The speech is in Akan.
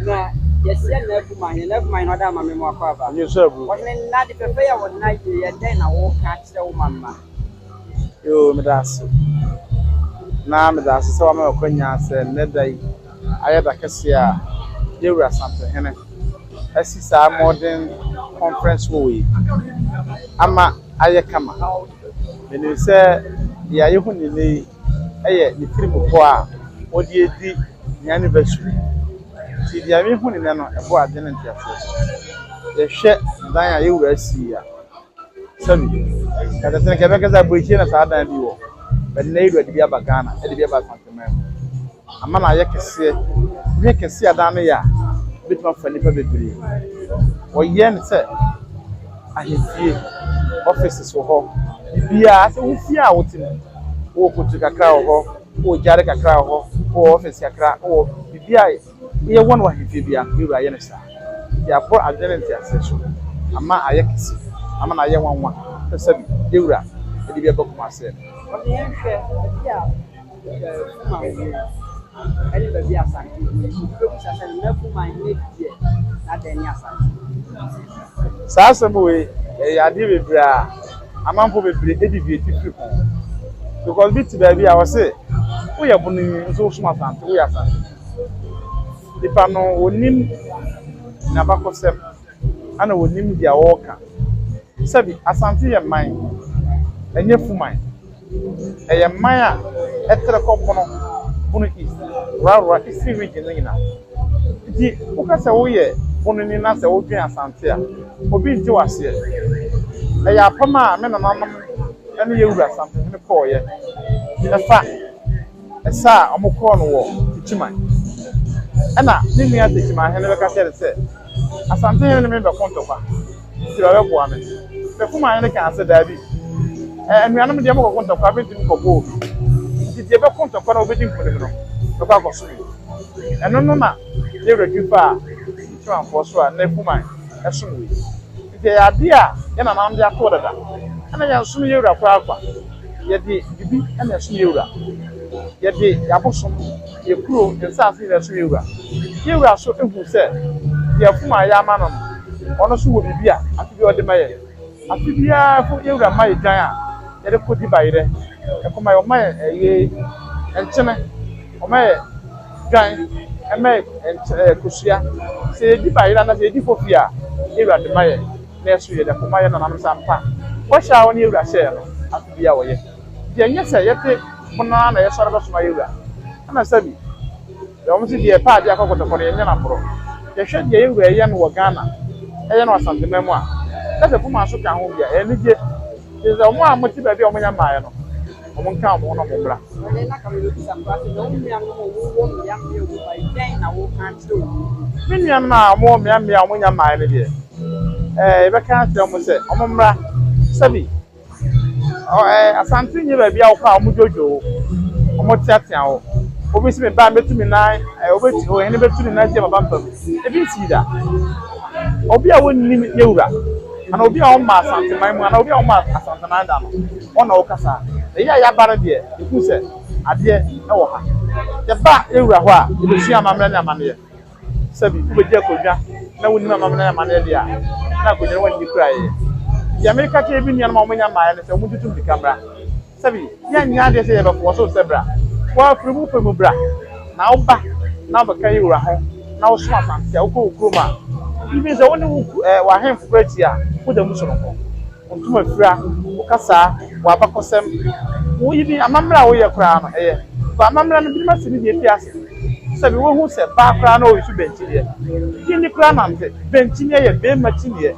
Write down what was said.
Na yɛhyia nna abu ma hene, nna abu ma hene ɔda ama me mu akɔ aba. Nye sɛ abu. Ɔhene nna de pɛpɛ yɛ wɔn nna yie yɛ dɛn na wɔka akyerɛ wo mama. Yoo meda ase. Na meda ase sɛ wama me akwanya sɛ nnɛ da yi. Ayɛ da kɛseɛ a Yawura Asantenhene asi saa Modern Conference Hall yi ama ayɛ kama. Menim sɛ deɛ a yɛhu no nnɛ yi yɛ ne tiri mu pɔ a wɔde redi ne anniversary. Nti deɛ mehu no nnɛ no, ɛbɔ adwene ne nteaseɛ so. Yɛhwɛ dan a Yawura asi yi a, sɛbi yɛtete no nka yɛbɛka sɛ aboekyire na saa dan bi wɔ. But nnɛ Yawura de bi aba Ghana, ɛde bi aba Asanteman mu. ama no ayɛ kɛseɛ, dwene kɛseɛ a adan no yɛ a, ɛbɛtumi afa nnipa bebree. Wɔyɛ no sɛ ahemfie, offices wɔ hɔ, biribiara sɛ wo fie a wote mu, wowɔ kotu kakra wɔ hɔ, wowɔ gyaade kakra wɔ hɔ, wowɔ office kakra, wowɔ biribiara yɛ yɛ wɔn wɔ ahemfie biara no, Yɛwura yɛ no saa. Nti abɔ adwene ne nteaseɛ so ama ayɛ kɛse, ama no ayɛ nwanwa sɛ sɛbi Yɛwura de bi aba Kumasi. Saa asɛm wei ɛyɛ adeɛ bebree a amanfoɔ bebree ɛdi dua titire ho because bi te baabi a ɔse woyɛ bono yi nso wosom asante woyɛ asante nipa no ɔnim n'abakɔsɛm ɛna ɔnim deɛ ɔreka sɛbi asante yɛ man ɛnyɛ fuman. Ɛyɛ man a ɛtrɛ kɔ pono bunu east rarora eastern region no nyinaa. Nti woka sɛ woyɛ bununi na sɛ wodwen Asante a, obi nte wo aseɛ. Ɛyɛ apam a me nananom ne yɛn wura Asantenhene kɔeɛ. Ɛfa. Ɛsɛ a wɔkɔɔ no wɔ Techiman. Ɛnna ne nua Techiman hene bɛka kyerɛɛ no sɛ, Asante hene ne me rebɛko ntɔkwa, enti bɛbɛboa me. Techiman hene kaa sɛ, Dabi, ɛ, anuanom deɛ mokɔko ntɔkwa, mentumi nkɔbɔ obi. Enti deɛ ɛbɛko ntɔkwa na ɔbɛdi nkonim no bɛkɔ akɔsom yi. Ɛno no na ne werɛ twi faa Techimanfoɔ so a na Techiman som wei. Enti ɛyɛ adeɛ a yɛn nananom de ato hɔ dada. Ɛnna yɛnsom yɛn wura koraa kwa. Yɛde biribi na ɛsom yɛn wura. Yɛde yɛn abosom, yɛn kuro, yɛn nsase na ɛsom yɛn wura. Yɛn wura nso hu sɛ deɛ ɛfom a yɛama no no, ɔno nso wɔ biribi a afe biara ɔde ma yɛn. Afe biara mpo yɛn wura ma yɛn dwan a yɛde kɔdi bayerɛ. Ɛkɔma yɛn, ɔma yɛn ɛyei, nkyene, ɔma yɛn dwan, ɛma yɛn kosua. Sɛ yɛdi bayerɛ anaasɛ yɛdi fofie a, yɛn wura de ma yɛn. Naaso yɛda koma yɛ nananom sɛ ampa bɔhyɛ a Ɔnye Ewura hyɛɛ no afe biara wɔyɛ. Ntsi nnyɛ sɛ yɛtse ho no ara na yɛsoɛr bɛsoma Yewura. Ana Sammy, dɛ wɔn se deɛ ɛpɛ adeɛ akɔ kɔtɔkɔ no yɛnnyɛ no aborɔ. Yɛhwɛ deɛ Yewura ɛyɛ no wɔ Ghana, ɛyɛ no Asanteman mu a, na sɛ Kumase ka ho bi a, ɛyɛ anigye. Enti sɛ wɔn a wɔte baabi a wɔnnya mmaeɛ no, wɔnka wɔn ho na wɔmmra. Ɔhene no aka ma wɔabisa koraa sɛ, Na wo nuanom a wɔwɔ mmeammea a wɔmmaeɛ yi, dɛn na woka kyerɛ wɔn no? Me nuanom a wɔwɔ mmeammea a wɔnnya mmaeɛ no deɛ, ɛɛ, yɛbɛka akyerɛ wɔn sɛ wɔmmra. Sɛbi, ɔ, ɛɛ, Asante nyɛ baabi a wokɔ a wɔdwodwo wo, wɔteatea wo. Obi se, Me ba, mɛtu me nan, ɛɛ, wɔbɛtu, ɔhene bɛtu ne nan atia m'abampam. Ebi nsii da. Obi a wɔnnim ne wura. Ana obi a ɔmma Asanteman mu anaa obi a ɔmma Asanteman da no, ɔno na ɔrekasa ha. Na yɛ a yɛaba no deɛ, yɛhu sɛ adeɛ wɔ ha. Yɛba yɛn wura hɔ a, yɛbɛsua amammerɛ ne amanneɛ. Sɛbi wobɛdi akonnwa na wonnim amammerɛ ne amanneɛ deɛ a, na akonnwa no woanni koraa yɛ. Deɛ mereka akyerɛ yɛn nuanom a wɔnnya mmaeɛ no sɛ wɔntutu mmirika mmra. Sɛbi yɛnyɛ adeɛ sɛ yɛbɛko wɔ so sɛ bra woa firi mo pɛ mu bra na wo ba na wo bɛka yɛ wura ho na wo so asante a wo kɔ wo kurom a even sɛ wo ne wo eh w'ahenfo kura ti a wo da mu sonoko wo ntoma fira wo kasaa wo abakɔsɛm wo even amamerɛ a wo yɛ koraa no ɛyɛ kɔ amamerɛ no binom asi ne deɛ fi ase sɛbi wo hu sɛ baa koraa na ɔyi so bɛnkyineɛ gyindi koraa nante bɛnkyineɛ yɛ bɛɛma kyiniɛ.